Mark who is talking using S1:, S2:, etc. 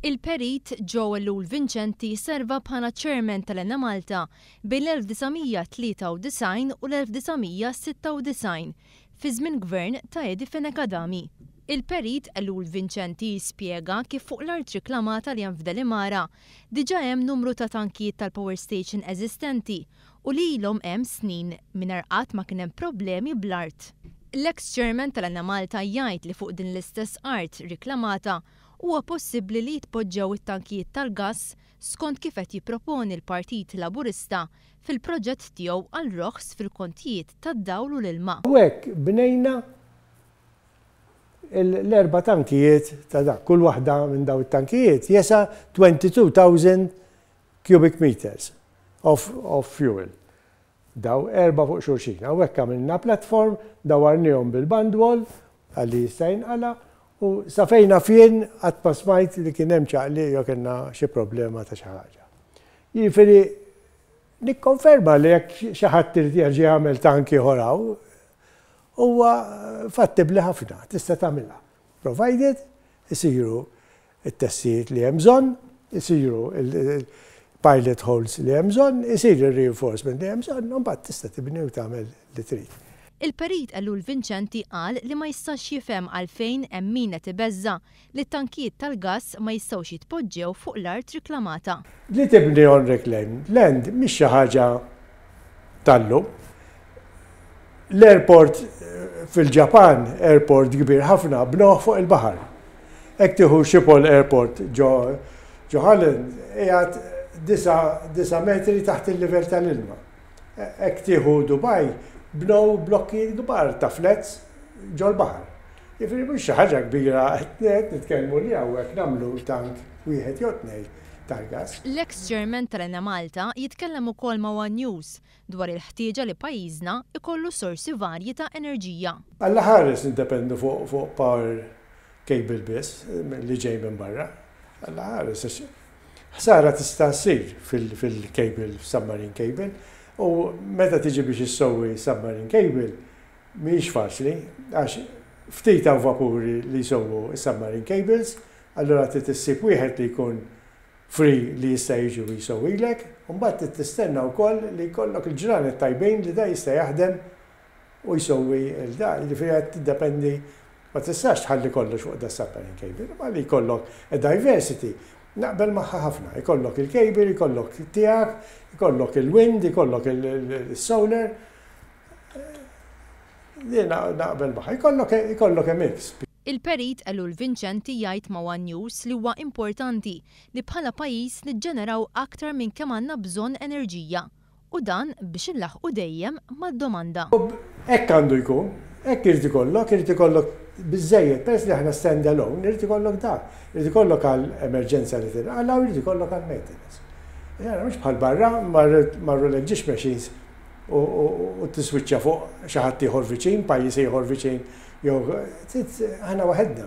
S1: Il-Perit Joel Lul Vincenti serva bħala Chairman tal-Enemalta bejn l-1993 u l-1996, fi żmien Gvern ta' Eddie Fenech Adami. Il-Perit Lul Vincenti spjega kif fuq l-art riklamata li hemm f'Delimara diġà hemm numru ta' tankijiet tal-power station eżistenti u li ilhom hemm snin mingħajr qatt ma kien hemm problemi bl-art. L-eks Chairman tal-Enemalta jgħid li fuq din l-istess art riklamata huwa possibbli li jitpoġġew it-tankijiet tal-gass skont kif qed jipproponi l-Partit Laburista fil-proġett tiegħu għal roħs fil-kontijiet tad-dawl u l-ilma. U hekk bnejna
S2: l-erba' tankijiet ta' dak. Kull waħda minn dawn it-tankijiet jesa' 22,000 cubic meters of fuel. Daw erba' fuq xulxin. Hawnhekk għamilna platform, dawwarniehom bil-bandwall għal li jista' jinqala' u sa fejn naf jien qatt ma smajt li kien hemm ċaqliq jew kellna xi problema ta' xi ħaġa. Jiġifieri nikkonferma li jekk xi ħadd irid jerġa' jagħmel tank ieħor hawn, huwa fattibbli ħafna, tista' tagħmilha. Provided isiru it-testijiet li hemm bżonn isiru, il-pilot holes li hemm bżonn, isir ir-reinforcement li hemm bżonn u mbagħad tista' tibni u tagħmel li trid. Il-Perit Elul
S1: Vincenti qal li ma jistax jifhem għalfejn hemm min qed ibeżża' li t-tankijiet tal-gass ma jistgħux jitpoġġew fuq l-art riklamata. Li tibni on
S2: reclaimed land mhix xi ħaġa tal-lum. L-airport fil-Ġapan, airport kbir ħafna, bnoh fuq il-baħar. Ek tiħu Schiphol Airport ġo Holland, jgħat 9 metri taħt il-livell tal-ilma. Ek tiħu Dubai, bnow blokki kbar ta' flats ġo l-baħar. Jifri mux ħaġa kbira, għet nitkellmu li għawek namlu tank wieħed jotnej. tal-gass. L-eks Chairman
S1: tal-Enemalta jitkellem ukoll ma' one News dwar il-ħtieġa li pajjiżna ikollu sorsi varji ta' enerġija. Allaħares
S2: nindependu fuq power cable biss li ġej minn barra. Allaħares għax ħsara tista' ssir fil-cable, f'submarine cable, u meta tiġi biex issewwi submarine cable mhijiex faċli għax ftit hawn vapuri li jsewwu s-submarine cables Allura trid issib wieħed li jkun free li jista' jiġi u jsewwilek, u mbagħad trid tistenna wkoll li jkollok il-ġranet tajbin li da jista' jaħdem u jsewwi l-da. Jiġifieri qed tiddependi, ma tistax tħalli kollox fuq da submarine cable, imma li jkollok a diversity naqbel magħha ħafna. Ikollok il-cable, ikollok tiegħek, ikollok il-wind, ikollok il-solar. Din naqbel magħha. Ikollok a mix. Il-Perit Elul
S1: Vincenti jgħid ma' one News li huwa importanti li bħala pajjiż niġġeneraw aktar minn kemm għandna bżonn enerġija u dan biex inlaħħqu dejjem mad-domanda. U hekk għandu
S2: jkun, hekk irid ikollok, irid ikollok biżżejjed, peress li aħna stand alone, irid ikollok dak. Irid ikollok għal emerġenza li tinqala' u jrid ikollok għall-maintenance. Mhux bħal barra, marru l-eġġiġ machines u tiswiċċa fuq xi ħadd ieħor viċin, pajjiż ieħor viċin jew aħna waħedna.